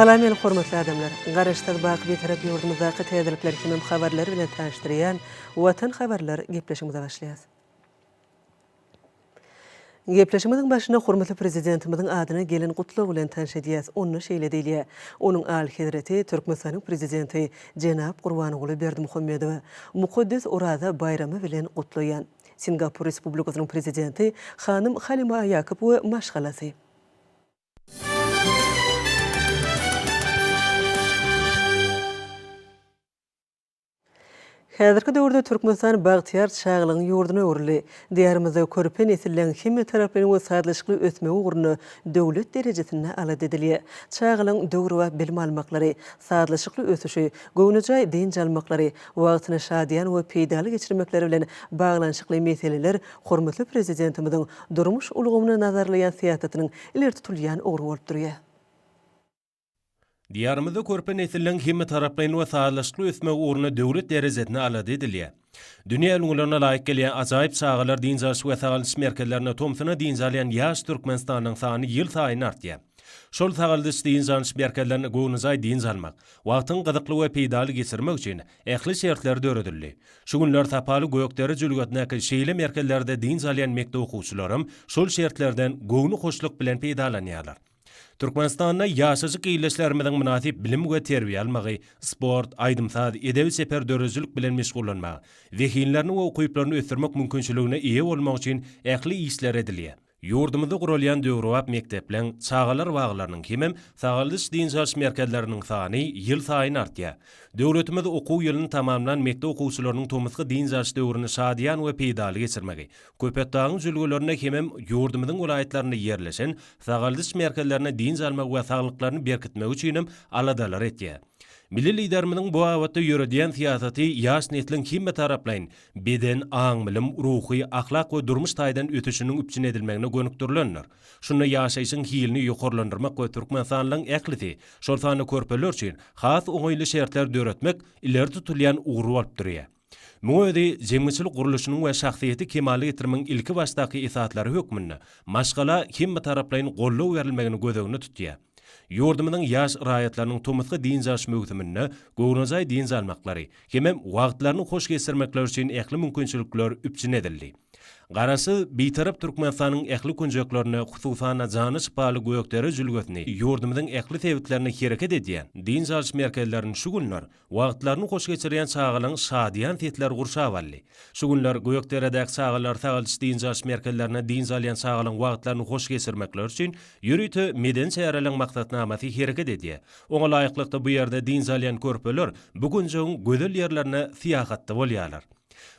Salam meni hormatly adamlar! Garaşsyz baky Bitarap ýurdumyzdaky täzelikler hemem habarlar bilen tanyşdyrýan Watan habarlar gepleşigimize başlaýas. Gepleşigimiziň başyny hormatly Prezidentimiziň adyna gelen gutlag bilen tanyş edýäs. Onda şeýle diýilýär, Onuň Alyhezreti Türkmenistanyň Prezidenti jenap Gurbanguly Berdimuhamedowy mukaddes Oraza baýramy bilen gutlaýan. Singapur Respublikasynyň Prezidenti hanym Halima Ýakup we maşgalasy. Häzirki döwürde Türkmenistan bagtyýar çagalygyň ýurduna öwrüldi. Diýarymyzda körpe nesilleň hemmetaraplaýyn we sazlaşykly ösmegi ugrunda döwlet derejesinde alada edilýär. Çagalygyň döwrebap bilim almaklary, sazlaşykly ösüşi, göwnejaý dynç almaklary, wagtyny şadyýan we peýdaly geçirmekleri bilen baglanyşykly meseleler hormatly Prezidentimiziň durmuş ulgamyny nazarlaýan syýasatynyň ileri tutulýan ugry bolup durýar. Diýarymyzda körpe nesilleriň hemmetaraplaýyn we sazlaşykly ösmegi ugrunda döwlet derejesinde alada edilýär. Dünýä ülňülerine laýyk gelýän ajaýyp çagalar dynç alyş we sagaldyş merkezlerinde tomsuna dynç alýan ýaş Türkmenistanlyň sany ýylsaýyn artýar. Şol sagaldyş-dynç alyş merkezlerinde göwnejaý dynç almak, wagtyňy gyzykly we peýdaly geçirmek üçin ähli şertler döredildi. Şu günler sapaly Gökdere jülgesindäki şeýle merkezlerde dynç alýan mekdep okuwçylaram şol şertlerden göwni hoşluk bilen peýdalanýarlar. Türkmenistanda ýaşajyk ildeşlerimiziň mynasyp bilim we terbiýe almagy, sport, aýdym-saz, edebi-çeper döredijilik bilen meşgullanmagy, zehinlerini we ukyplaryny ösdürmek mümkinçiligine eýe bolmagy üçin ähli işler edilýär. Ýurdumyzda guralýan döwrebap mekdepleriň, çagalar baglarynyň hemem sagaldyş-dynç alyş merkezleriniň sany ýylsaýyn artýar. Döwletimiz okuw ýylyny tamamlan mekdep okuwçylarynyň tomusky dynç alyş döwrüni şadyýan we peýdaly geçirmegi, Köpetdagyň jülgelerinde hemem ýurdumyzyň welaýatlarynda ýerleşen sagaldyş merkezlerinde dynç almagy we saglyklaryny berkitmegi üçinem aladalar etýär. Milli Liderimiziň bu babatda ýöredýän syýasaty ýaş nesliň hemmetaraplaýyn beden, aň-bilim, ruhy, ahlak we durmuş taýdan ösüşiniň üpjün edilmegine gönükdirilendir. Şunda ýaşaýşyň hilini ýokarlandyrmak we türkmenistanlylaryň ählisi, şol sanda körpeler üçin has oňaýly şertler döretmek ileri tutulýan ugur bolup durýar. Muňa özi jemgyçylyk gurluşynyň we şahsyýeti kemala getirmegiň ilkibaşdaky esaslary hökmünde maşgala hemmetaraplaýyn goldaw berilmegini göz öňünde tutýar. Ýurdumyzyň ýaş raýatlarynyň tomusky dynç alyş möwsüminde göwnejaý dynç almaklary hemem wagtlaryny hoş geçirmekleri üçin ähli mümkinçilikler üpjün edildi. Garaşsyz, Bitarap Türkmenistanyň ähli künjeklerinde, hususan-da, jana şypaly Gökdere jülgesini ýurdumyzyň ähli sebitlerinde hereket edýän dynç alyş merkezlerini şu günler Wagtlaryny hoş geçirýän çagalaryň şadyýan sesleri gurşap aldy. Şu günler Gökderedäki çagalar sagaldyş-dynç alyş merkezlerinde dynç alýan çagalaryň wagtlaryny hoş geçirmekleri üçin ýörite medeni çäreleriň maksatnamasy hereket edýär. Oňa laýyklykda bu ýerde dynç alýan körpeler bu künjegiň gözel ýerlerine syýahatda bolýarlar.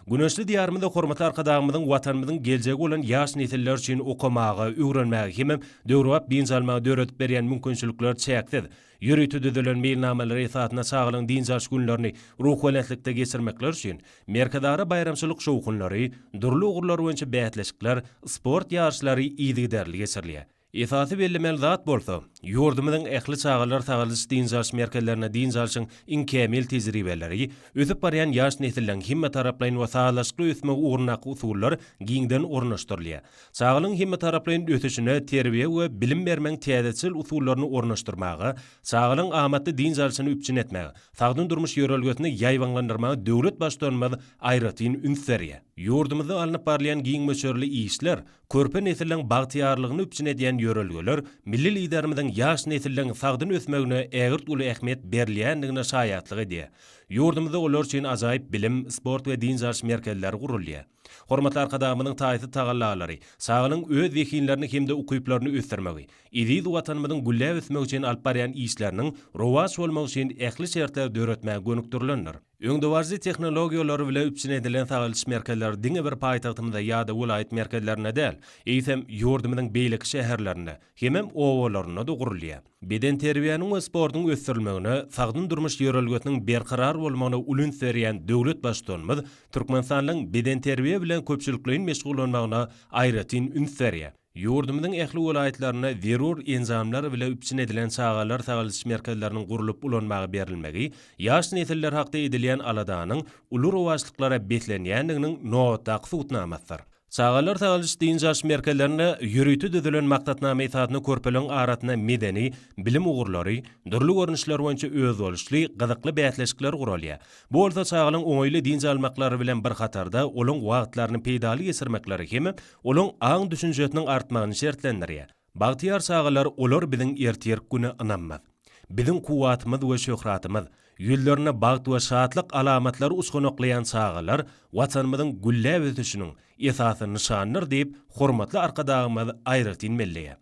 Güneşli Diýarymyzda hormatly Arkadagymyzyň Watanymyzyň geljegi bolan ýaş nesiller üçin okamaga, öwrenmäge hemem döwrebap dynç almaga döredip berýän mümkinçilikler çäksiz. Ýörite düzülen meýilnamalar esasynda çagalaryň dynç alyş günlerini ruhubelentlikde geçirmekleri üçin Merkezara baýramçylyk şowhunlary, dürli ugurlar boýunça bäsleşikler, sport ýaryşlary yzygiderli geçirilýär. Esasy bellemeli zat bolsa, ýurdumyzyň ähli çagalar sagaldyş-dynç alyş merkezlerinde dynç alşyň iň kämil tejribeleri, ösüp barýan ýaş nesilleriň hemmetaraplaýyn we sazlaşykly ösmegi ugrundaky usullar giňden ornaşdyrylýar. Çagalygyň hemmetaraplaýyn ösüşine terbiýe we bilim bermegiň täzeçil usullaryny ornaşdyrmaga, çagalygyň amatly dynç alşyny üpjün etmäge, sagdyn durmuş ýörelgesini ýaýbaňlandyrmaga döwlet Baştutanymyz aýratyn üns berýär. Ýurdumyzda alnyp barylýan giň möçberli işler, körpe nesilleriň bagtyýarlygyny üpjün edýän ýörelgeler milli Liderimiziň ýaş nesilleriň sagdyn ösmegine ägirt uly ähmiýet berilýändigine şaýatlyk edýär. Ýurdumyzda olar üçin ajaýyp bilim, sport we dynç alyş merkezleri gurulýar. Hormatly Arkadagymyzyň taýsyz tagallalary, çaganyň öz zehinlerini hem-de ukyplaryny ösdürmegi, eziz Watanymyzyň gülläp ösmegi üçin alyp barýan işleriniň rowaç bolmagy üçin ähli şertleri döretmäge gönükdirilendir. Öňdebaryjy tehnologiýalary bilen üpjün edilen sagaldyş merkezleri diňe bir paýtagtymyzda ýa-da welaýat merkezlerinde däl, eýsem, ýurdumyzyň beýleki şäherlerinde, hemem obalarynda-da gurulýar. Bedenterbiýäniň we sportuň ösdürilmegine, sagdyn durmuş ýörelgesiniň berkarar bolmagyna uly üns berýän döwlet Baştutanymyz türkmenistanlyň bedenterbiýe bilen köpçülikleýin meşgullanmagyna aýratyn üns berýär. Ýurdumyzyň ähli welaýatlarynda zerur enjamlar bile üpjün edilen çagalar sagaldyş merkezleriniň gurlup ulanmaga berilmegi ýaş nesiller hakda edilýän aladanyň uly rowaçlyklara beslenýändiginiň nobatdaky subutnamasydyr. Çagalar sagalyş-dynç alyş merkezlerinde ýörite düzülen maksatnama esasynda körpeleriň arasynda medeni, bilim ugurlary, dürli görnüşleri boýunça özboluşly, gyzykly bäsleşikler guralýar. Bu bolsa çagalaryň oňaýly dynç almaklary bilen bir hatarda, olaryň wagtlaryny peýdaly geçirmekleri hem-de olaryň aň-düşünjesiniň artmagyny şertlendirýär. Bagtyýar çagalar olar biziň ertirk güne ynamymyz. Biziň kuwwatymyz we şöhratymyz. Ýüzlerinde bagt we şatlyk alamatlary uçganaklaýan çagalar Watanymyzyň gülläp ösüşiniň esasy nyşanydyr diýip, hormatly Arkadagymyz aýratyn belleýär.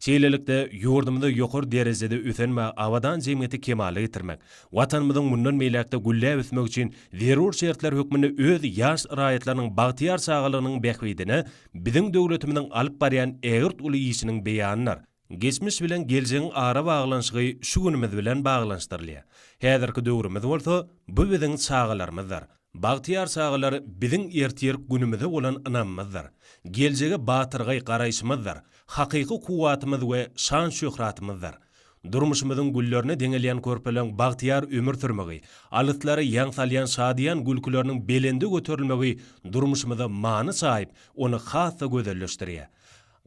Şeýlelikde, ýurdumyzda ýokary derejede ösen we abadan jemgyýeti kemala getirmek, Watanymyzyň mundan beýläk-de gülläp ösmegi üçin zerur şertler hökmünde öz ýaş raýatlarynyň bagtyýar çagalygynyň bähbidine biziň döwletimiziň alyp barýan ägirt uly işiniň beýanydyr. Geçmiş bilen geljegiň ara baglanyşygy şu günümiz bilen baglanyşdyrylýar. Häzirki döwrümiz bolsa, bu biziň çagalarymyzdyr. Bagtyýar çagalar biziň ertirik günümize bolan ynamymyzdyr. Geljege batyrgaý garaýşymyzdyr. Hakyky kuwwatymyz we şan-şöhratymyzdyr. Durmuşymyzyň güllerine deňelýän körpeleň bagtyýar ömür sürmegi, alyslara ýaň salýan şadyýan gülküleriniň belende göterilmegi durmuşymyza many çaýyp, ony has-da gözelleşdirýär.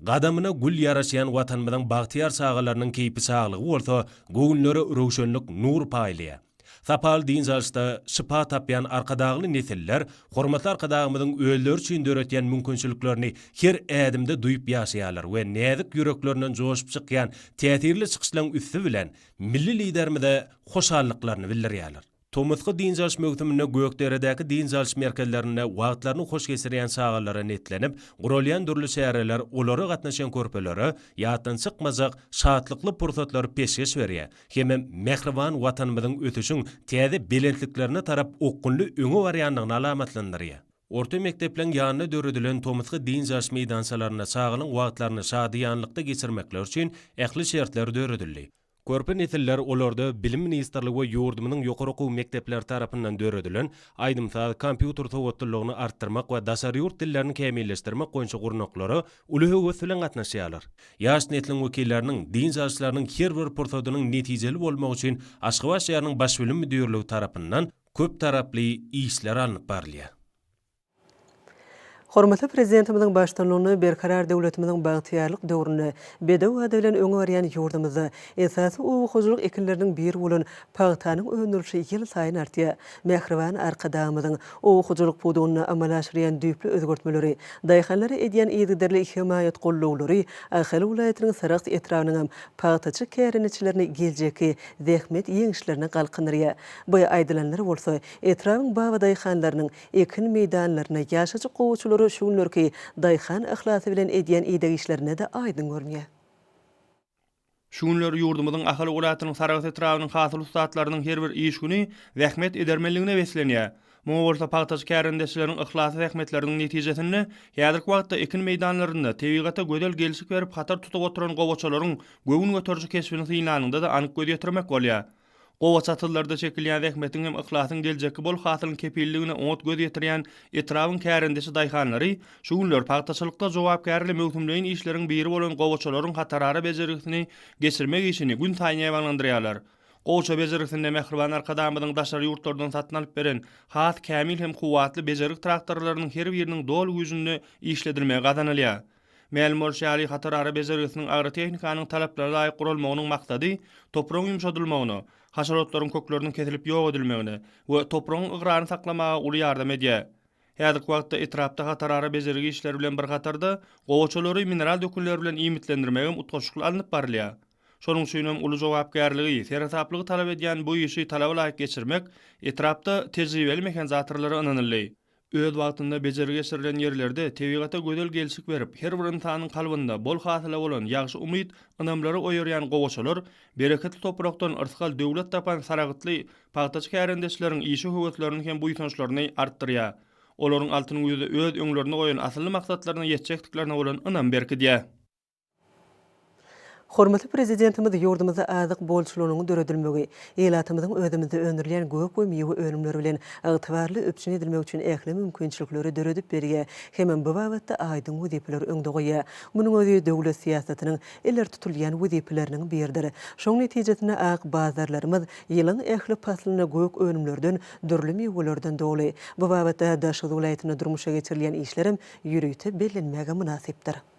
Gadamyna gül ýaraşýan Watanymyzyň bagtyýar çagalarynyň keýpi-şaglygy bolsa göwünlere röwşenlik, nur paýlaýar. Sapaly dynç alyşda şypa tapýan Arkadagly nesiller hormatly Arkadagymyzyň özleri üçin döretýän mümkinçiliklerini her ädimde duýup ýaşaýarlar we näzik ýüreklerinden joşup çykýan täsirli çykyşlaryň üsti bilen milli Liderimize hoşallyklaryny bildirýärler. Tomusky dynç alyş möwsüminde Gökderedäki dynç alyş merkezlerinde wagtlaryny hoş geçirýän çagalara netlenip guralýan dürli çäreler olara gatnaşan körpelere ýatdan çykmajak şatlykly pursatlary peşgeş berýär hemem mähriban Watanymyzyň ösüşiň täze belentliklerine tarap okgunly öňe barýandygyny alamatlandyrýar. Orta mekdepleriň ýanynda döredilen tomusky dynç alyş meýdançalarynda çagalyň wagtlaryny şadyýanlykda geçirmekleri üçin ähli şertler döredildi. Körpe nesiller olarda Bilim ministrligi we ýurdumyzyň ýokary okuw mekdepleri tarapyndan döredilen Aýdym-saz, kompýuter sowatlylygyny artdyrmak we daşary ýurt dillerini kämilleşdirmek boýunça gurnaklara uly höwes bilen gatnaşýarlar. Ýaş nesliň wekilleriniň dynç alyşlarynyň her bir pursadynyň netijeli bolmagy üçin Aşgabat şäheriniň Baş bilim müdirligi tarapyndan köptaraply işler alnyp barylýar. Hormatly Prezidentimiziň baştutanlygynda Berkarar döwletimiziň bagtyýarlyk döwründe bedew ady bilen öňe barýan ýurdumyzda esasy oba hojalyk ekinleriniň biri bolan pagtanyň öndürilişi ýylsaýyn artýar. Mähriban Arkadagymyzyň oba hojalyk pudagynda amala aşyrýan düýpli özgertmeleri, daýhanlara edýän yzygiderli hemaýat-gollaglary Ahal welaýatynyň Sarahs etrabynyň hem pagtaçy kärendeçilerini geljekki zähmet ýeňişlerine galkyndyrýar. Bu aýdylanlar bolsa, etrabyň babadaýhanlarynyň ekin meýdanlaryna, ýaşajyk gowaçalara şu günlerki daýhan yhlasy bilen edýän ideg işlerinde-de aýdyň görünýär. Şu günler ýurdumyzyň Ahal welaýatynyň Sarahs etrabynyň hasyl ussatlarynyň her bir iş güni zähmet edermenligine beslenýär. Muňa bolsa pagtaçy kärendeçileriň yhlasly zähmetleriniň netijesinde häzirki wagtda ekin meýdanlarynda tebigata gözel gelşik berip hatar tutup oturan gowaçalaryň göwün göteriji keşbini synlanyňda-da anyk göz ýetirmek bolýar. Gowaça atyllarda çekilýän zähmetiň hem yhlasyň geljekki bol hasylyň kepilligine oňat göz ýetirýän etrabyň kärendeçi daýhanlary şu günler pagtaçylykda jogapkärli möwsümleýin işleriň biri bolan gowaçalaryň hatarara bejergisini geçirmek işini gün saýyn ýaýbaňlandyrýarlar. Gowaça bejergisinde mähriban Arkadagymyzyň daşary ýurtlardan satyn alyp beren has kämil hem kuwwatly bejergi traktorlarynyň her biriniň doly güýjünde işledilmegi gazanylýar. Mälim bolşy ýaly, hatar ara bejergisiniň agrotehnikanyň talaplara laýyk guralmagynyň maksady topragyň ýumşadylmagyna, haşalotlaryň kökleriniň kesilip ýok edilmegine we topragyň ygraryny saklamaga uly ýardam edýär. Häzirki wagtda etrapda hatar ara bejergi işleri bilen bir hatarda, gowaçalary mineral dökünler bilen iýmitlendirmegem utgaşykly alnyp barylýar. Şonuň üçinem uly jogapkärligi, seresaplygy talap edýän bu işi talaba laýyk geçirmek etrapda tejribeli mehanzatorlara ynanyldy. Öz wagtynda bejergi geçirilen ýerlerde tebigata gözel gelşik berip, her bir ynsanyň kalbynda bol hasyla bolan ýagşy umyt, ynamlary oýarýan gowaçalar, bereketli toprakdan yrsgal, döwlet tapan saragtly pagtaçy kärendeçleriň işe höweslerini hem buýsançlaryny artdyrýar. Olaryň altyn güýzde öz öňlerinde goýan asylly maksatlaryna ýetjekdiklerine bolan ynam berkidýär. Hormatly Prezidentimiz ýurdumyzda azyk bolçulygynyň döredilmegi, ilatymyzyň özümizde öndürilýän gök we miwe önümleri bilen ygtybarly üpjün edilmegi üçin ähli mümkinçilikleri döredip berýär hemem bu babatda aýdyň wezipeleri öňde goýýar. Munuň özi döwlet syýasatynyň ileri tutulýan wezipeleriniň biridir. Şoň netijesinde ak bazarlarymyz ýylyň ähli paslynda gök önümlerden, dürli miwelerden doly. Bu babatda Daşoguz welaýatynda durmuşa geçirilýän işlerem ýörite bellenmäge mynasypdyr.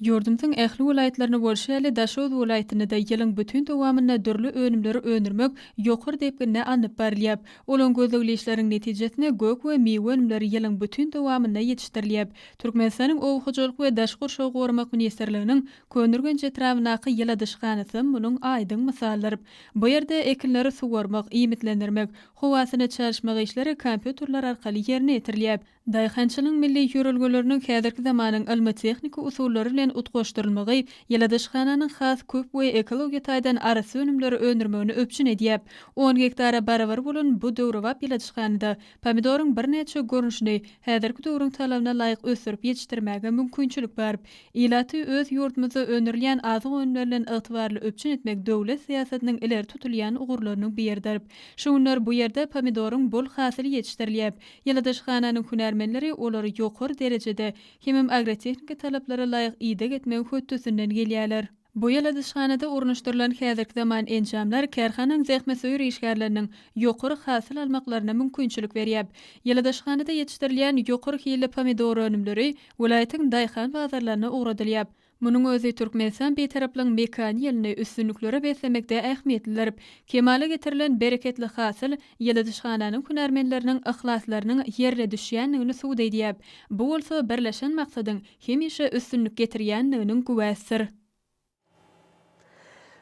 Ýurdumyzyň ähli welaýatlaryny bolşy ýaly, Daşoguz welaýatynda-da ýylyň bütin dowamynda dürli önümleri öndürmek ýokary depginde alnyp barylýar. Ulan gözlegli işleriň netijesinde gök we miwe önümleri ýylyň bütin dowamynda ýetişdirilýär. Türkmenistanyň Oba hojalyk we daşky gurşawy goramak ministrliginiň Köneürgenç etrabyndaky ýyladyşhanasy munuň aýdyň mysaldyr. Bu ýerde ekinleri suwarmak, iýmitlendirmek, howasyny çalyşmak işleri kompýuterler arkaly ýerine ýetirilýär. Daýhançylygyň milli ýörelgeleriniň häzirki zamanyň ylmy-tehniki usullary bilen utgaşdyrylmagy ýyladyşhananyň has köp we ekologiýa taýdan arassa önümleri öndürmegini üpjün edýär. On gektara barabar bolan bu döwrebap ýyladyşhanada pomidoryň birnäçe görnüşini häzirki döwrüň talabyna laýyk ösdürip ýetişdirmäge mümkinçilik bar. Ilaty öz ýurdumyzda öndürilýän azyk önümleri bilen ygtybarly üpjün etmek döwlet syýasatynyň ileri tutulýan ugurlarynyň biridir. Şu günler bu ýerde pomidoryň bol hasyly ýetişdirilýär. Ýyladyşhananyň hünärmenleri olary ýokary derejede hemem agrotehniki talaplara laýyk ideg etmegiň hötdesinden gelýärler. Bu ýyladyşhanada ornaşdyrylan häzirki zaman enjamlar kärhananyň zähmetsöýer işgärleriniň ýokary hasyl almaklaryna mümkinçilik berýär. Ýyladyşhanada ýetişdirilýän ýokary hilli pomidor önümleri welaýatyň daýhan bazarlaryna ugradylýar. Munuň özi Türkmenistan Bitaraplygyň mekan ýylyny üstünliklere beslemekde ähmiýetlidir. Kemala getirilen bereketli hasyl ýyladyşhananyň hünärmenleriniň yhlaslarynyň ýerine düşýändigini subut edýär. Bu bolsa birleşen maksadyň hemişe üstünlik getirýändiginiň güwäsidir.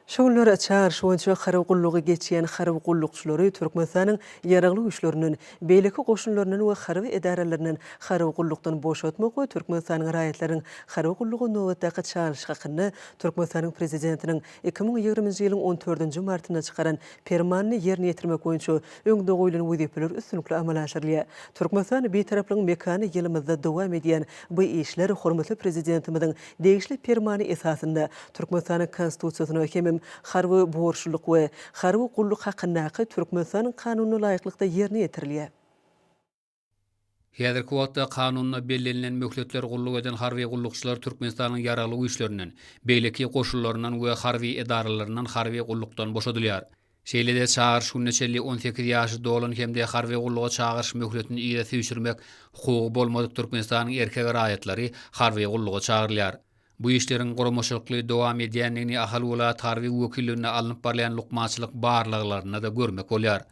Şu günler Çaryş boýunça harby gullugy geçýän harby gullukçylary Türkmenistanyň Ýaragly Güýçlerinden, beýleki goşunlaryndan we harby edaralaryndan harby gullukdan boşatmak we Türkmenistanyň raýatlarynyň harby gulluga nobatdaky çalyşy hakynda Türkmenistanyň Prezidentiniň iki müň ýigriminji ýylyň on dördünji martynda çykaran Permanyny ýerine ýetirmek boýunça öňde goýlan wezipeler üstünlikli amala aşyrylýar. Türkmenistan Bitaraplygyň mekany ýylymyzda dowam edýän bu işler hormatly Prezidentimiziň Degişli Permany esasynda Türkmenistanyň Konstitusiýasyna hemem Harby borçlulyk we harby gulluk hakyndaky Türkmenistanyň Kanunyna laýyklykda ýerine ýetirilýär. Häzirki wagtda Kanunda bellenilen möhletler gulluk eden harby gullukçylar Türkmenistanyň Ýaragly Güýçlerinden, beýleki goşunlaryndan we harby edaralaryndan harby gullukdan boşadylýar. Şeýle-de çagyryş gününe çenli on sekiz ýaşy dolan hem-de harby gulluga çagyryş möhletini yza süýşürmek hukugy bolmadyk Türkmenistanyň erkek raýatlary harby gulluga çagyrylýar. Bu işleriň guramaçylykly dowam edýändigini Ahal welaýat harby wekilliginde alnyp barylýan lukmançylyk barlaglarynda-da görmek bolýar.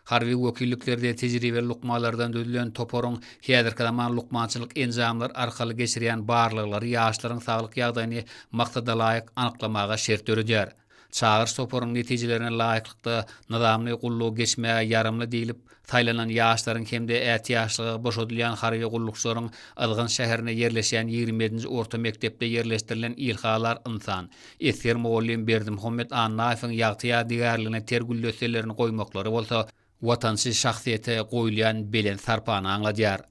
Harby wekilliklerde tejribeli lukmanlardan düzülen toparyň häzirki zaman lukmançylyk enjamlary arkaly geçirýän barlaglary ýaşlaryň saglyk ýagdaýyny maksadalaýyk anyklamaga şert döredýär. Çagyryş toparynyň netijelerine laýyklykda nyzamly gullugy geçmäge ýaramly diýlip saýlanan ýaşlaryň hem-de ätiýaçlyga boşadylýan harby gullukçylaryň Yzgyn şäherinde ýerleşýän ýigrimi ýedinji orta mekdepde ýerleşdirilen Ilhalar ynsan, esger mugallym Berdimuhammet Annaýewiň ýagty ýadygärligine ter güldesselerini goýmaklary bolsa watançy şahsyýete goýulýan belent sarpany aňladýar.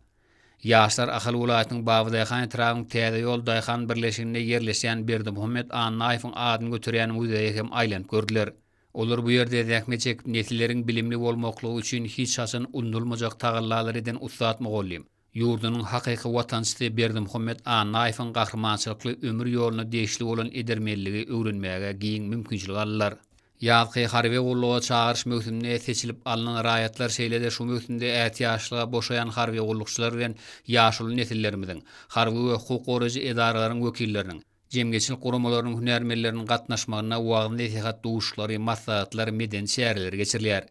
Ýaşlar Ahal welaýatynyň Babydaýhan etrabynyň Täze ýol daýhan birleşiginde ýerleşýän Berdimuhammet Annaýewiň adyny göterýän muzeýe hem aýlanyp gördüler. Olar bu ýerde zähmet çekip nesilleriň bilimli bolmaklygy üçin hiç haçan unudylmajak tagallalary eden ussat mugallym, ýurdunyň hakyky watançysy Berdimuhammet Annaýewiň gahrymançylykly ömür ýoluna degişli bolan edermenligi öwrenmäge giň mümkinçilik aldylar. Ýazky harby gulluga çagyryş möwsüminde seçilip alnan raýatlar şeýle-de şu möwsümde ätiýaçlyga boşaýan harby gullukçylar bilen ýaşuly nesillerimiziň, harby we hukuk goraýjy edaralaryň wekilleriniň, jemgyýetçilik guramalarynyň hünärmenleriniň gatnaşmagynda wagyz-nesihat duşuşlary, maslahatlar, medeni çäreler geçirilýär.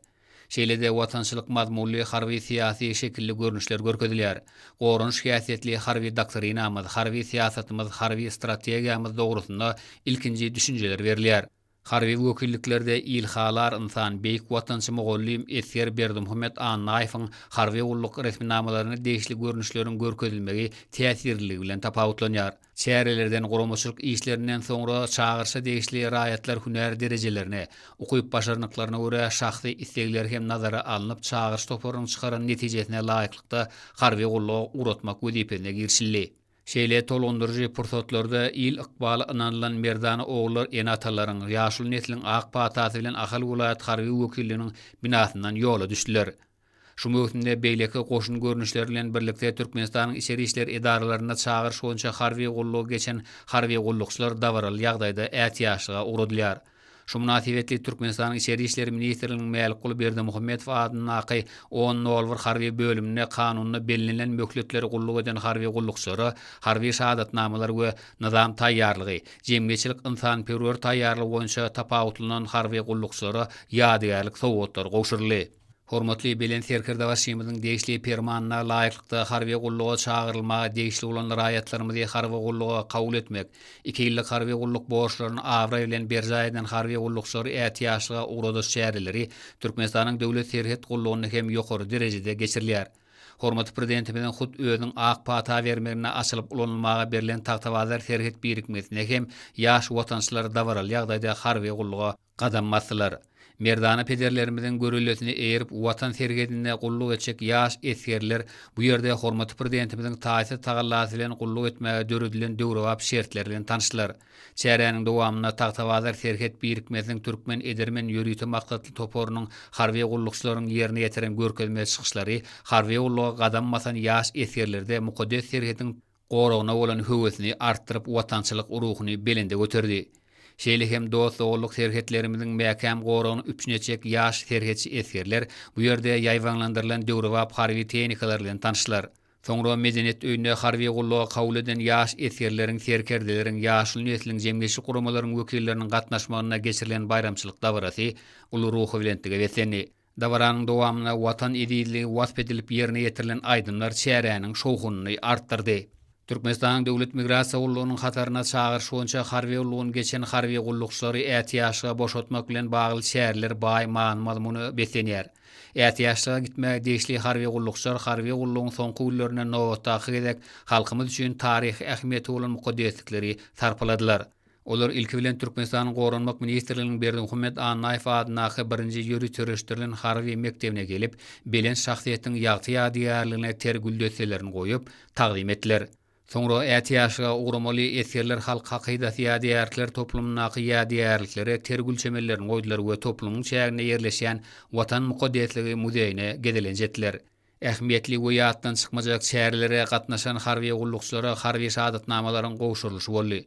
Şeýle-de watançylyk mazmunly harby-syýasy şekilli görnüşler görkezilýär. Goranyş häsiýetli harby doktrinamyz, harby syýasatymyz, harby strategiýamyz dogrusynda ilkinji düşünjeler berilýär. Harby wekilliklerde Ilhalar ynsan, beýik watançy mugallym esger Berdimuhamet Annaýewiň harby gulluk resminamalaryna degişli görnüşleriň görkezilmegi täsirliligi bilen tapawutlanýar. Çärelerden guramaçylyk işlerinden soňra çagyryşa degişli raýatlar hünär derejelerine, ukyp-başarnyklaryna görä şahsy islegleri hem nazara alnyp çagyryş toparynyň çykaran netijesine laýyklykda harby gulluga ugratmak wezipesine girişildi. Şeýle tolgundyryjy pursatlarda il ykbaly ynanylan merdana ogullar ene-atalaryň, ýaşuly nesliň ak patasy bilen Ahal welaýat harby wekilliginiň binasyndan ýola düşdüler. Şu möwsümde beýleki goşun görnüşleri bilen birlikde Türkmenistanyň içeri işler edaralarynda çagyryş boýunça harby gullugy geçen harby gullukçylar dabaraly ýagdaýda ätiýaçlyga ugradylýar. Şu mynasybetli Türkmenistanyň Içeri işler ministrliginiň Mälikguly Berdimuhamedow adyndaky On nolbar harby bölüminde kanunda bellenilen möhletleri gulluk eden harby gullukçylara harby şahadatnamalar we Nyzam taýýarlygy, jemgyýetçilik-ynsanperwer taýýarlygy boýunça tapawutlanan harby gullukçylara ýadygärlik sowgatlary gowşuryldy. Hormatly Belent Serkerdebaşymyzyň degişli Permanyna laýyklykda harby gulluga çagyrylmaga degişli bolan raýatlarymyzy harby gulluga kabul etmek, iki ýyllyk harby gulluk borçlaryny abraý bilen berjaý eden harby gullukçylary ätiýaçlyga ugradyş çäreleri Türkmenistanyň Döwlet serhet gullugynda hem ýokary derejede geçirilýär. Hormatly Prezidentimiziň hut özüniň ak pata bermeginde açylyp ulanylmaga berlen Tagtabazar serhet birikmesine hem ýaş watançylar dabaraly ýagdaýda harby gulluga gadam basdylar. Merdana pederlerimiziň görellesine eýerip Watan serhedinde gulluk etjek ýaş esgerler bu ýerde hormatly Prezidentimiziň taýsyz tagallasy bilen gulluk etmäge döredilen döwrebap şertler bilen tanyşdylar. Çäräniň dowamynda Tagtabazar serhet birikmesiniň türkmen edermen ýörite maksatly toparynyň harby gullukçylaryň ýerine ýetiren görkezme çykyşlary harby gulluga gadam basan ýaş esgerlerde mukaddes serhetiň goragyna bolan höwesini artdyryp watançylyk ruhuny belende göterdi. Şeýle hem dost-doganlyk serhetlerimiziň mäkäm goragyny üpjün etjek ýaş serhetçi esgerler bu ýerde ýaýbaňlandyrylan döwrebap harby tehnikalar bilen tanyşdylar. Soňra Medeniýet öýünde harby gulluga kabul eden ýaş esgerleriň, serkerdeleriň, ýaşuly nesliň, jemgyýetçilik guramalaryň wekilleriniň gatnaşmagynda geçirilen baýramçylyk dabarasy uly ruhubelentlige beslendi. Dabaranyň dowamynda Watan ezizligi wasp edilip ýerine ýetirilen aýdymlar çäräniň şowhunyny artdyrdy. Türkmenistanyň Döwlet migrasiýa gullugynyň hataryna çagyryş boýunça harby ulgamyny geçen harby gullukçylary ätiýaçlyga boşatmak bilen bagly çäreler baý many-mazmuna beslenýär. Ätiýaçlyga gitmäge degişli harby gullukçylar harby gullugyň soňky günlerinde nobatdaky gezek halkymyz üçin taryhy ähmiýeti bolan mukaddeslikleri sarpaladylar. Olar ilki bilen Türkmenistanyň Goranmak ministrliginiň Berdimuhamet Annaýew adyndaky birinji ýörüt sürüşdirilen harby mekdebine gelip, belent şahsyýetiň ýagty ýadygärligine ter güldesselerini goýup, tagzym etdiler. Soňra ätiýaçlyga ugramaly esgerler halk hakydasy ýadygärlikler toplumyndaky ýadygärliklere ter gül çemenlerini goýdular we toplumyň çäginde ýerleşýän Watan mukaddesligi muzeýine gezelenç etdiler. Ähmiýetli we ýatdan çykmajak çärelere gatnaşan harby gullukçylara harby şahadatnamalaryň gowşurylyşy boldy.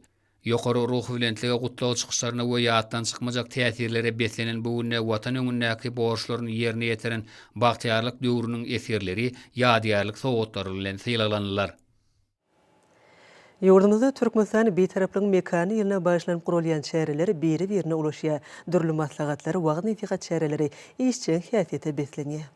Ýokary ruhubelentlige, gutlag çykyşlaryna we ýatdan çykmajak täsirlere beslenen bu günde Watan öňündäki borçlaryny ýerine ýetiren bagtyýarlyk döwrüniň esgerleri ýadygärlik sowgatlary bilen sylaglanylar. Ýurdumyzda Türkmenistan Bitaraplygyň mekany ýylyna bagyşlanyp guralýan çäreler biri-birine ulaşýar, dürli maslahatlar, wagyz-nesihat çäreleri işjeň häsiýete beslenýär.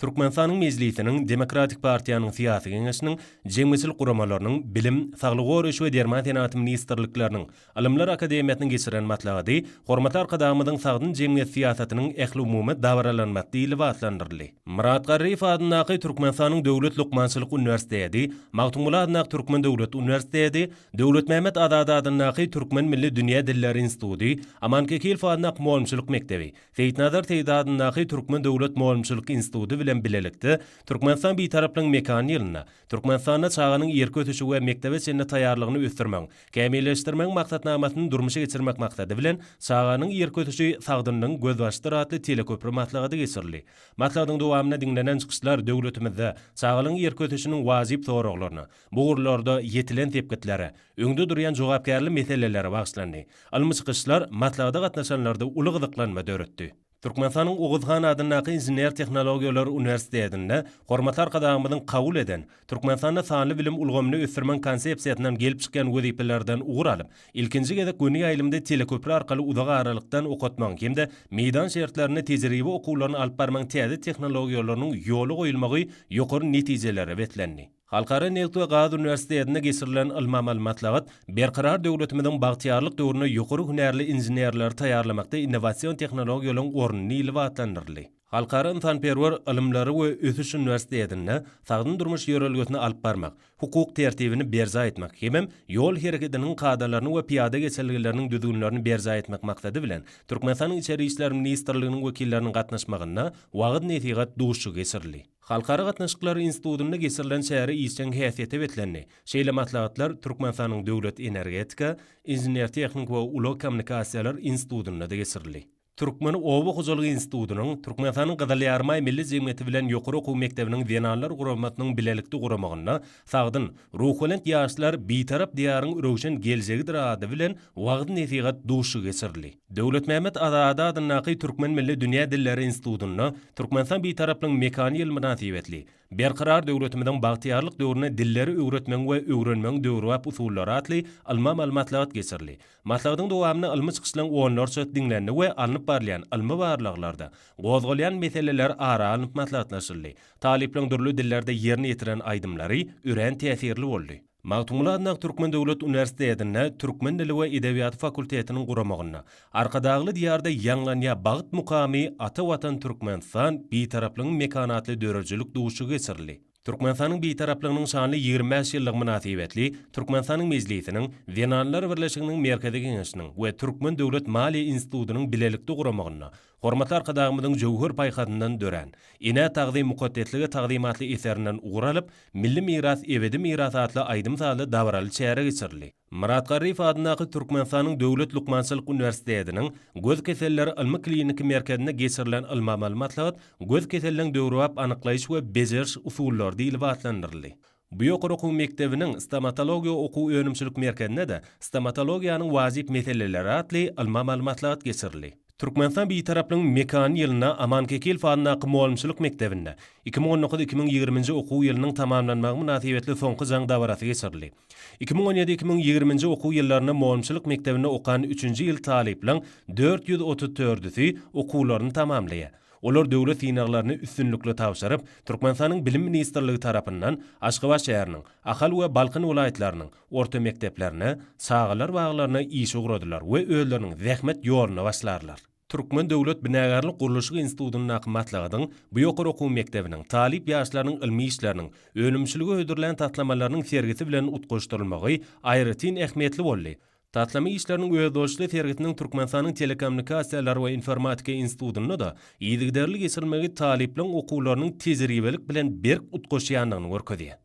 Türkmenistanyň Mejlisiniň, Demokratik partiýanyň Syýasy Geňeşiniň, jemgyýetçilik guramalarynyň, Bilim, Saglygy goraýyş we Derman senagaty ministrlikleriniň, Ylymlar akademiýasynyň geçiren maslahaty Hormatly Arkadagymyzyň sagdyn jemgyýet syýasatynyň ähliumumy dabaralanmasy lybaslandyryldy. Myrat Garryýew adyndaky Türkmenistanyň Döwlet lukmançylyk uniwersiteti, Magtymguly adyndaky Türkmen döwlet uniwersiteti, Döwletmämmet Azady adyndaky Türkmen milli dünýä dilleri instituty, Aman Kekilow adyndaky mugallymçylyk mekdebi, Seýitnazar Seýdi adyndaky Türkmen döwlet mugallymçylyk instituty bilen bilelikde Türkmenistan Bitaraplygyň mekany ýylynda Türkmenistanda çaganyň ýerki ösüşi we mekdebe çenli taýýarlygyny ösdürmegiň, kämilleşdirmegiň maksatnamasyny durmuşa geçirmek maksady bilen Çaganyň ýerki ösüşi, sagdynlygyň gözbaşydyr atly teleköpri maslahaty geçirildi. Maslahatyň dowamynda diňlenen çykyşlar döwletimizde çagalaryň ýerki ösüşiniň wajyp soraglaryna, Bu ugurlarda ýetilen sepgitlere, öňde durýan jogapkärli meselelere bagyşlandy. Ylmy çykyşlar maslahata gatnaşanlarda uly gyzyklanma döretdi. Türkmenistanyň Oguz han adyndaky Inžener-tehnologiýalar uniwersitetinde Hormatly Arkadagymyzyň kabul eden Türkmenistanda sanly bilim ulgamyny ösdürmeň konsepsiýasyndan gelip çykýan wezipelerden ugur alyp, ilkinji gezek göni ýaýlymda teleköpri arkaly uzak aralykdan okatmagyň hem-de meýdan şertlerinde tejribe okuwlaryny alyp barmagyň täze tehnologiýalarynyň ýola goýulmagy ýokary netijelere beslendi. Halkara neft we gaz uniwersitetinde geçirilen ylmy-amaly maslahat Berkarar döwletimiziň bagtyýarlyk döwründe ýokary hünärli inženerleri taýýarlamakda innowasion tehnologiýalaryň orny nilibi atlandyryldy. Halkara ynsanperwer ylymlary we ösüş uniwersitetinde sagdyn durmuş ýörelgesini alyp barmak, hukuk tertibini berjaý etmek hemem ýol hereketiniň kadalaryny we pyýada geçelgeleriniň düzgünlerini berjaý etmek maksady bilen Türkmenistanyň Içeri işler ministrliginiň wekilleriniň gatnaşmagynda wagyz-nesihat duşuşygy geçirildi. Halkara gatnaşyklary institutynda geçirilen çäre işjeň häsiýete beslendi. Şeýle maslahatlar Türkmenistanyň Döwlet energetika, inžener-tehniki we ulag kommunikasiýalar institutynda-da geçirildi. Türkmen oba hojalygy institutynyň, Türkmenistanyň Gyzyl Ýarymaý Milli jemgyýeti bilen ýokary okuw mekdebiniň zenanlar guramasynyň bilelikde guramagynda Sagdyn, ruhubelent ýaşlar Bitarap Diýaryň röwşen geljegidir ady bilen wagyz-nesihat duşuşygy geçirildi. Döwletmämmet Azady adyndaky Türkmen milli dünýä dilleri institutynda Türkmenistan Bitaraplygyň mekany ýyly mynasybetli Berkarar döwletimiziň bagtyýarlyk döwründe dilleri öwretmegiň we öwrenmegiň döwrebap usullary atly ylmy-amaly maslahat geçirildi. Maslahatyň dowamynda ylmy çykyşlaryň onlarçasy diňlendi we alnyp barylýan ylmy barlaglarda gozgalýan meseleler ara alnyp maslahatlaşyldy. Talyplaň dürli dillerde ýerine ýetiren aýdymlary örän täsirli boldy. Magtymguly Adyndaky Türkmen döwlet uniwersitetinde Türkmen dili we edebiýaty fakultetiniň guramagynda Arkadagly diýarda ýaňlanýa bagt mukamy Ata Watan Türkmenistan, Bitaraplygyň mekany atly döredijilik duşuşygy geçirildi. Türkmenistanyň Bitaraplygynyň şanly ýigrimi bäş ýyllygy mynasybetli Türkmenistanyň Mejlisiniň, Zenanlar birleşiginiň Merkezi Geňeşiniň we Türkmen döwlet maliýe institutynyň bilelikde guramagynda Hormatly Arkadagymyzyň jöwher paýhasyndan dörän Enä tagzym, mukaddeslige tagzym atly eserinden ugur alyp, Milli miras, ebedi miras atly aýdym-sazly dabaraly çäre geçirildi. Myrat Garryýew adyndaky Türkmenistanyň Döwlet lukmançylyk uniwersitetiniň Göz keselleri ylmy-kliniki merkezinde geçirilen ylmy-amaly maslahat göz keseliniň döwrebap anyklaýyş we bejeriş usullary diýlip atlandyryldy. Bu ýokary okuw mekdebiniň Stomatologiýa okuw-önümçilik merkezinde-de Stomatologiýanyň wajyp meseleleri atly ylmy amaly maslahat geçirildi. Türkmenistan Bitaraplygyň mekany ýylynda Aman Kekilow adyndaky mugallymçylyk mekdebinde iki müň on dokuz iki müň ýigrimi nji okuw ýylynyň tamamlanmagy mynasybetli soňky jaň dabarasy geçirildi. Iki müň on ýedi iki müň ýigrimi nji okuw ýyllarynda mugallymçylyk mekdebinde okan üçünji ýyl talyplaryň dört ýüz otuz dördüsi okuwlaryny tamamlaýar. Olar döwlet synaglaryny üstünlikli tabşyryp, Türkmenistanyň Bilim ministrligi tarapyndan Aşgabat şäheriniň, Ahal we Balkan welaýatlarynyň orta mekdeplerine, çagalar baglaryna işe ugradylar we özleriniň zähmet ýoluna başlarlar. Türkmen döwlet binagärlik-gurluşyk institutyndaky maslahatyň bu ýokary okuw mekdebiniň talyp ýaşlarynyň ylmy işleriniň, önümçilige hödürlän taslamalarynyň sergisi bilen utgaşdyrylmagy aýratyn ähmiýetli boldy, Taslama işleriniň özboluşly sergisiniň Türkmenistanyň Telekommunikasiýalar we informatika institutynda-da yzygiderli geçirilmegi talyplaryň okuwlarynyň tejribelik bilen berk utgaşýandygyny görkezýär.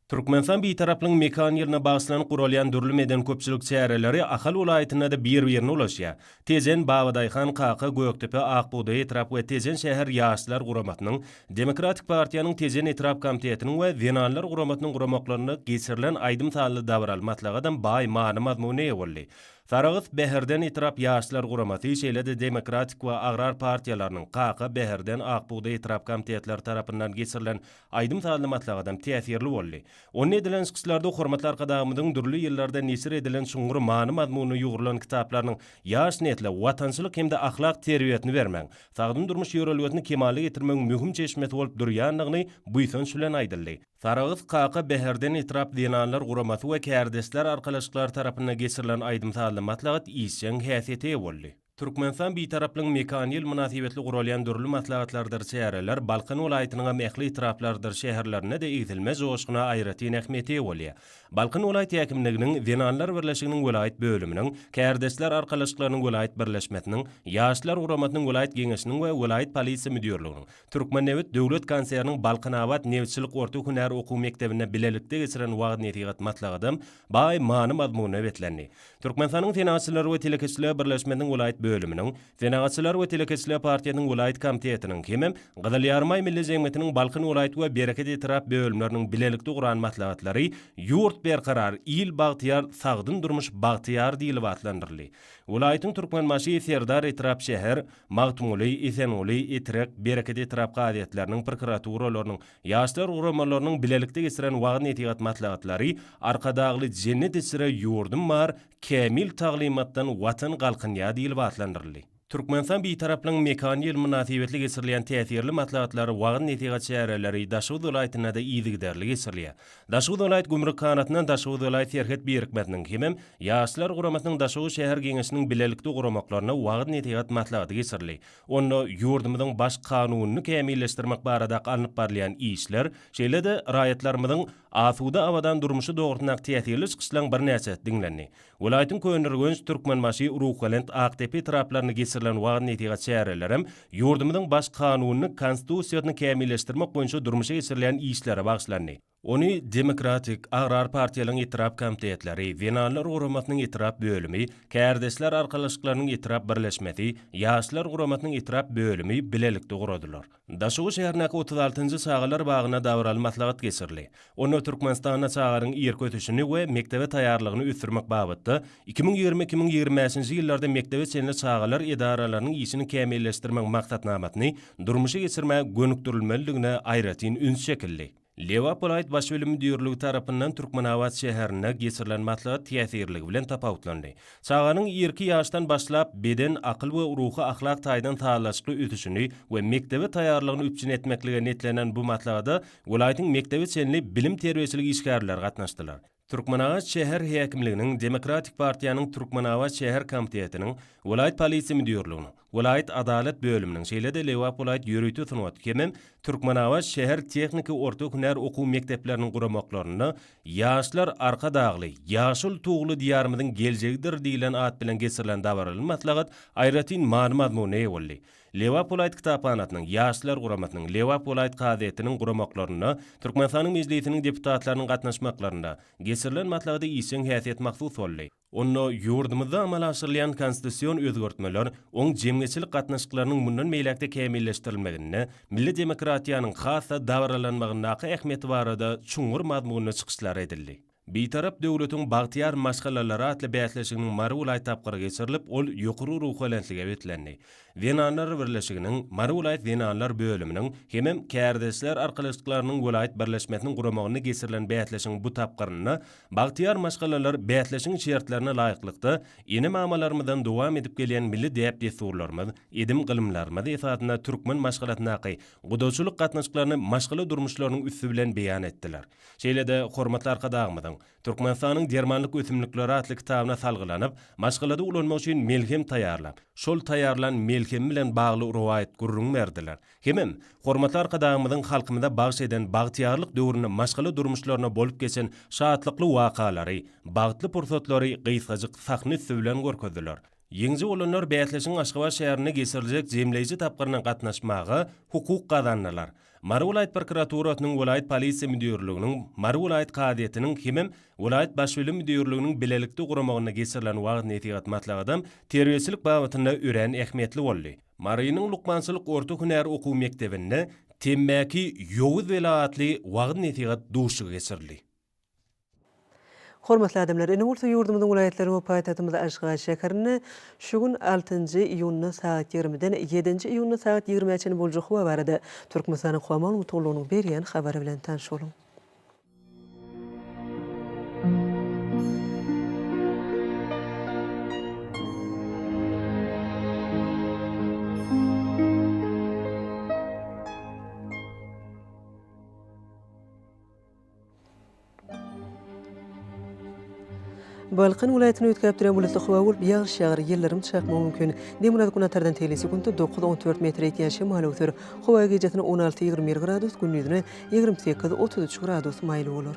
Türkmenistan Bitaraplygyň mekan ýylyna bagyşlanyp guralýan dürli medeni-köpçülik çäreleri Ahal welaýatynda-da bir-birine ulaşýar. Tejen Babadaýhan kaka Gökdepe Akbugdaý etrap we Tejen şäher ýaşlar guramasynyň, Demokratik partiýanyň Tejen etrap komitetiniň we Zenanlar guramasynyň guramaklarynda geçirilen aýdym-sazly dabaraly maslahatam baý many-mazmuna eýe boldy. Saragys Bäherden etrap ýaşlar guramasy, şeýle-de Demokratik we Agrar partiýalarynyň, Kaka, Bäherden, Akbugdaý etrap komitetleri tarapyndan geçirilen aýdym-sazly maslahatam täsirli boldy. Onda edilen çykyşlarda hormatly Arkadagymyzyň dürli ýyllarda neşir edilen çuňňur many-mazmunyna ýugrulan kitaplarynyň ýaş nesle watançylyk hem-de ahlak terbiýesini bermegiň, sagdyn durmuş ýörelgesini kemala getirmegiň möhüm çeşmesi bolup durýandygyny buýsanç bilen aýdyldy. Saraguz kaka Bäherden etrap zenanlar guramasy we kärdeşler arkalaşyklary tarapynda geçirilen aýdym-sazly maslahat işjeň häsiýete eýe boldy. Türkmenistan Bitaraplygyň mekany ýyl mynasybetli guralýan dürli maslahatlardyr çäreler Balkan welaýatynyňam ähli etraplardyr şäherlerinde-de egsilmez joşguna aýratyn ähmiýete eýe bolýar. Balkan welaýat häkimliginiň Zenanlar birleşiginiň welaýat bölüminiň, Kärdeşler arkalaşyklarynyň welaýat birleşmesiniň, Ýaşlar guramasynyň welaýat geňeşiniň we welaýat polisiýa müdirliginiň, Türkmennebit döwlet konserniniň Balkanabat nebitçilik orta hünär okuw mekdebinde bilelikde geçiren wagyz-nesihat maslahatam baý many-mazmuna beslendi. Türkmenistanyň Senagatçylar we telekeçiler birleşmesiniň welaýat bölüminiň, Senagatçylar we telekeçiler partiýasynyň welaýat komitetiniň hemem Gyzyl Ýarymaý milli jemgyýetiniň Balkan welaýat we Bereket etrap bölümleriniň bilelikde guran maslahatlary Ýurt berkarar, il bagtyýar, sagdyn durmuş bagtyýar diýlip atlandyryldy. Welaýatyň Türkmenbaşy, Serdar etrap, şäher, Magtymguly, Esenguly, Etrek, Bereket etrap kazyýetleriniň, prokuraturalarynyň, Ýaşlar guramalarynyň bilelikde geçiren wagyz-nesihat maslahatlary Arkadagly Jennet içre ýurdum bar, Kämil taglymatdan Watan galkynýar diýlip atlandyryldy. Türkmenistan Bitaraplygyň mekany ýyly mynasybetli geçirilýän täsirli maslahatlar, wagyz-nesihat çäreleri Daşoguz welaýatynda-da yzygiderli geçirilýär. Daşoguz welaýat gümrük kanatyndan Daşoguz welaýat serhet birikmesiniň hemem Ýaşlar guramasynyň Daşoguz şäher geňeşiniň bilelikde guramaklaryna wagyz-nesihat maslahaty geçirildi. Onda ýurdumyzyň Baş Kanunyny kämilleşdirmek baradaky alnyp barylýan işler, şeýle-de raýatlarymyzyň asuda, abadan durmuşy dogrusyndaky täsirli çykyşlaryň birnäçesi diňlendi. Welaýatyň Köneürgenç, Türkmenbaşy, Ruhbelent, Akdepe etraplarynda geçirilen wagyz-nesihat çäreleri hem ýurdumyzyň Baş Kanunyny, Konstitusiýasyny kämilleşdirmek boýunça durmuşa geçirilýän işlere bagyşlandy. Ony Demokratik, Agrar partiýalaryň etrap komitetleri, Zenanlar guramasynyň etrap bölümi, Kärdeşler arkalaşyklarynyň etrap birleşmesi, Ýaşlar guramasynyň etrap bölümi bilelikde guradylar. Daşoguz şäherindäki otuz altynjy çagalar bagynda dabaraly maslahat geçirildi. Onda Türkmenistanda çaganyň irki ösüşini we mekdebe taýýarlygyny ösdürmek babatda iki müň ýigrimi iki müň ýigrimi bäşinji ýyllarda mekdebe çenli çagalar edaralarynyň işini kämilleşdirmegiň maksatnamasyny durmuşa geçirmäge gönükdirilmelidigine aýratyn üns çekildi. Lebap welaýat baş bölüm müdirligi tarapyndan Türkmenabat şäherinde geçirilen maslahat täsirligi bilen tapawutlandy. Çaganyň irki ýaşdan başlap, beden, akyl we ruhy-ahlak taýdan sazlaşykly ösüşini we mekdebe taýýarlygyny üpjün etmeklige niýetlenen bu maslahata welaýatyň mekdebe çenli bilim-terbiýeçilik işgärleri gatnaşdylar. Türkmenabat şäher häkimliginiň, Demokratik partiýanyň Türkmenabat şäher komitetiniň, welaýat polisiýa müdirliginiň, welaýat adalat bölüminiň, şeýle-de Lebap welaýat ýörite sungat hemem Türkmenabat şäher tehniki orta hünär okuw mekdepleriniň guramaklarynda Ýaşlar, Arkadagly, ýaşyl tugly Diýarymyzyň geljegidir diýlen at bilen geçirilen dabaraly maslahat aýratyn many-mazmuna eýe boldy. Lebap welaýat kitaphanasynyň, Ýaşlar guramasynyň, Lebap welaýat kazyýetiniň guramaklarynda, Türkmenistanyň Mejlisiniň deputatlarynyň gatnaşmaklarynda geçirilen maslahata işjeň häsiýet mahsus boldy. Onda ýurdumyzda amala aşyrylýan konstitusion özgertmeler oň jemgyýetçilik gatnaşyklarynyň mundan beýläk-de kämilleşdirilmeginde, milli demokratiýanyň has-da dabaralanmagyndaky ähmiýeti barada çuňňur mazmunly çykyşlar edildi. Bitarap döwletiň bagtyýar maşgalalary atly bäsleşiginiň Mary welaýat tapgyry geçirilip, ol ýokary ruhubelentlige beslendi. Zenanlar birleşiginiň, Mary welaýat zenanlar bölüminiň hemem Kärdeşler arkalaşyklarynyň welaýat birleşmesiniň guramagynda geçirilen bäsleşigiň bu tapgyrynda bagtyýar maşgalalar bäsleşigiň şertlerine laýyklykda, ene-mamalarymyzdan dowam edip gelýän milli däp-dessurlarymyz, edim-gylymlarymyz esasynda türkmen maşgalasyndaky gudaçylyk gatnaşyklaryny maşgala durmuşlarynyň üsti bilen beýan etdiler. Şeýle-de, hormatly Arkadagymyzyň, Türkmenistanyň dermanlyk ösümlikleri atly kitabyna salgylanyp, maşgalada ulanmak üçin melhem taýýarlap, şol taýýarlan melhem bilen bagly rowaýat gürrüň berdiler. Hemem, hormatly Arkadagymyzyň halkymyza bagyş eden bagtyýarlyk döwründe maşgala durmuşlarynda bolup geçen şatlykly wakalary, bagtly pursatlary gysgajyk sahna üsti bilen görkezdiler. Ýeňiji bolanlar bäsleşigiň Aşgabat şäherinde geçiriljek jemleýji tapgyryna gatnaşmaga hukuk gazandylar. Mary welaýat prokuraturasynyň, welaýat polisiýa müdirliginiň, Mary welaýat kazyýetiniň hemem welaýat Baş bilim müdirliginiň bilelikde guramagynda geçirilen wagyz-nesihat maslahatam terbiýeçilik babatynda örän ähmiýetli boldy. Marynyň lukmançylyk orta hünär okuw mekdebinde Temmäki ýowuz bela atly wagyz-nesihat duşuşygy geçirildi. Hormatly adamlar! Ine bolsa ýurdumyzyň welaýatlary we paýtagtymyz Aşgabat şäherinde şu gün altynjy iýunda sagat ýigrimiden ýedinji iýunda sagat ýigrimä çenli boljak howa barada Türkmenistanyň Howa maglumatgullugynyň berýän habary bilen tanyş boluň. Balkan welaýatyny üýtgäp duran bulutly howa bolup, ýagyş ýagar, ýyldyrym çakmagy mümkin. Demirgazyk Günortadan telli sekuntda dokuz-on dört metr ýetýän şemal öwser. Howa gijasynda on alty-ýigrimi bir gradus, gündizine ýigrimi sekiz-otuz üç gradus maýyl bolar.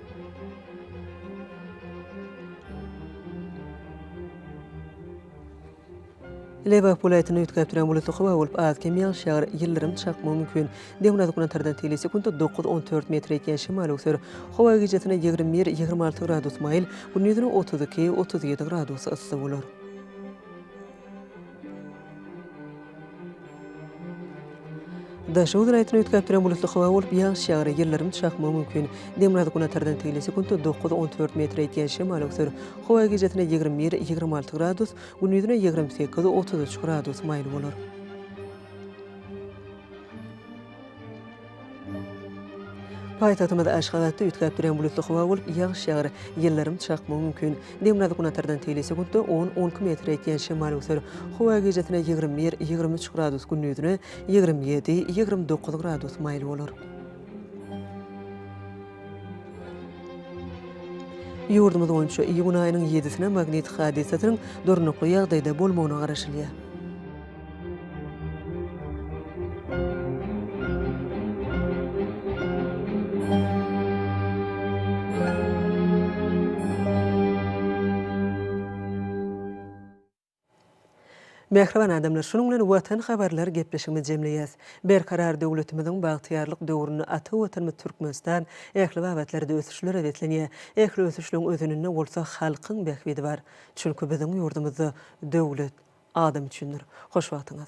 Lebap welaýatyny üýtgäp duran bulutly howa bolup, az-kem ýagyş ýagar, ýyldyrym çakmagy mümkin. Demirgazyk Günortadan tili sekuntda dokuz-on dört metre ýetýän şemal öwser. Howa gijesine ýigrimi bir, ýigrimi alty gradus maýyl, gündiz ine otuz iki, otuz ýedi gradus yssy bolar. Daşoguz welaýatyny üýtgäp duran bulutly howa bolup, ýagyş ýagar, ýyldyrym çakmagy mümkin. Demirgazyk günortadan tegli sekuntda dokuz-on dört metre ýetýän şemal öwser. Howa gijesine ýigrimi bir, ýigrimi alty gradus, gündizine ýigrimi sekiz, otuz üç gradus maýyl bolar. Paýtagtymyz Aşgabatda üýtgäp duran bulutly howa bolup, ýagyş ýagar, ýyldyrym çakmagy mümkin. Demirgazyk-günatardan teýle sekuntda on-on iki metre ýetýän şemal öwser. Howa gijesine ýigrimi bir, ýigrimi üç gradus, gündizine ýigrimi ýedi, ýigrimi dokuz gradus maýyl bolar. Ýurdumyz boýunça iýun aýynyň ýedisine magnit hadysasynyň durnukly ýagdaýda bolmagyna garaşylýar. Mähriban adamlar, şunuň bilen Watan habarlar gepleşigimizi jemleýäs. Berkarar döwletimiziň bagtyýarlyk döwründe ata Watanymyz Türkmenistan ähli babatlarda ösüşlere beslenýär. Ähli ösüşligiň özeninde bolsa halkyň bähbidi bar. Çünki biziň ýurdumyzda döwlet, Adam üçindir. Hoş wagtyňyz.